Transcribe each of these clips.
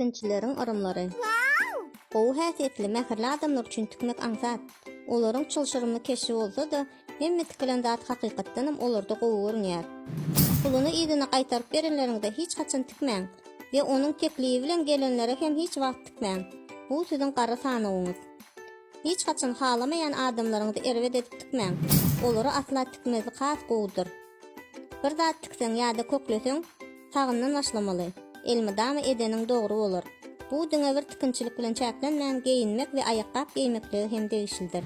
Spinçileriň yrymlary. Gowy häsiýetli, mähirli adamlar üçin tikmek aňsat. Olaryň çylşyrymly keşbi bolsa-da, hemme tikilen zat hakykatdanam olarda gowy görünýär. Puluny yzyna gaýtaryp berenleriňde hiç haçan tikmäň we onuň teklibi bilen gelenlere hem hiç wagt tikmäň. Bu siziň gara sanawyňyz. Hiç haçan halamaýan adamlaryňyzy erbet edip tikmäň. Olara asla tikmezlik has gowudyr. Bir zat tikseň ýa-da kökleseň, Sagyndan başlamaly. Elmydama edeniň dogry bolar. Bu diňe bir tikinçilik bilen çäklenmän, geýinmek we aýakgap geýmeklige hem degişlidir.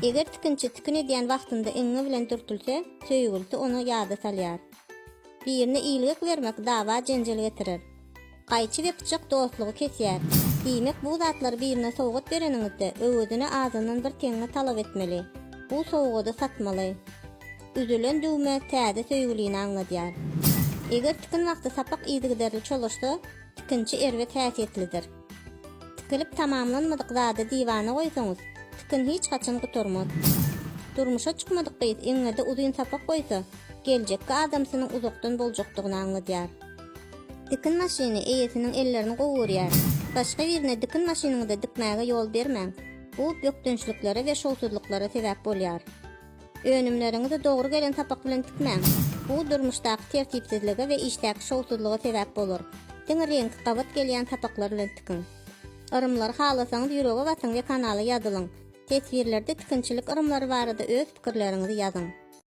Eger tikinçi tikin edýän wagtynda iňňe bilen dürtülse, söýgülisi ony ýada salýar. Birine ilgek bermek dawa-jenjel getirer. Gaýçy we pyçak dostlugy kesýär. Diýmek, bu zatlary birine sowgat bereniňizde, öwezine azyndan bir teňňe talap etmeli. Bu sowgady satmaly. Üzülen düwme täze söýgülini aňladýar. Eger tikin wagty sapak yzygiderli çolaşsa, tikinçi erbet häsiýetlidir. Tikilip tamamlanmadyk zady diwana goýsaňyz, tikin hiç haçan gutarmaz. Durmuşa çykmadyk gyz eňňede uzyn sapak goýsa, geljekki adamsynyň uzakdan boljakdygyny aňladýar. Tikin maşyny eýesiniň ellerini gowy görýär. Başga birine tikin maşynyňyzy dikmäge ýol bermäň. Bu bökdençliklere we şowsuzlyklara sebäp bolýar. Önümleriňizi dogry gelen sapak bilen tikmäň. Bu durmuşdaky tertipsizlige we işdäki şowsuzlyga sebäp bolar. Diňe reňki gabat gelýän sapaklar bilen tikiň. Yrymlary halasaňyz ýürege basyň we kanala ýazylyň. Teswirlerde tikinçilik yrymlary barada öz pikirleriňizi ýazyň.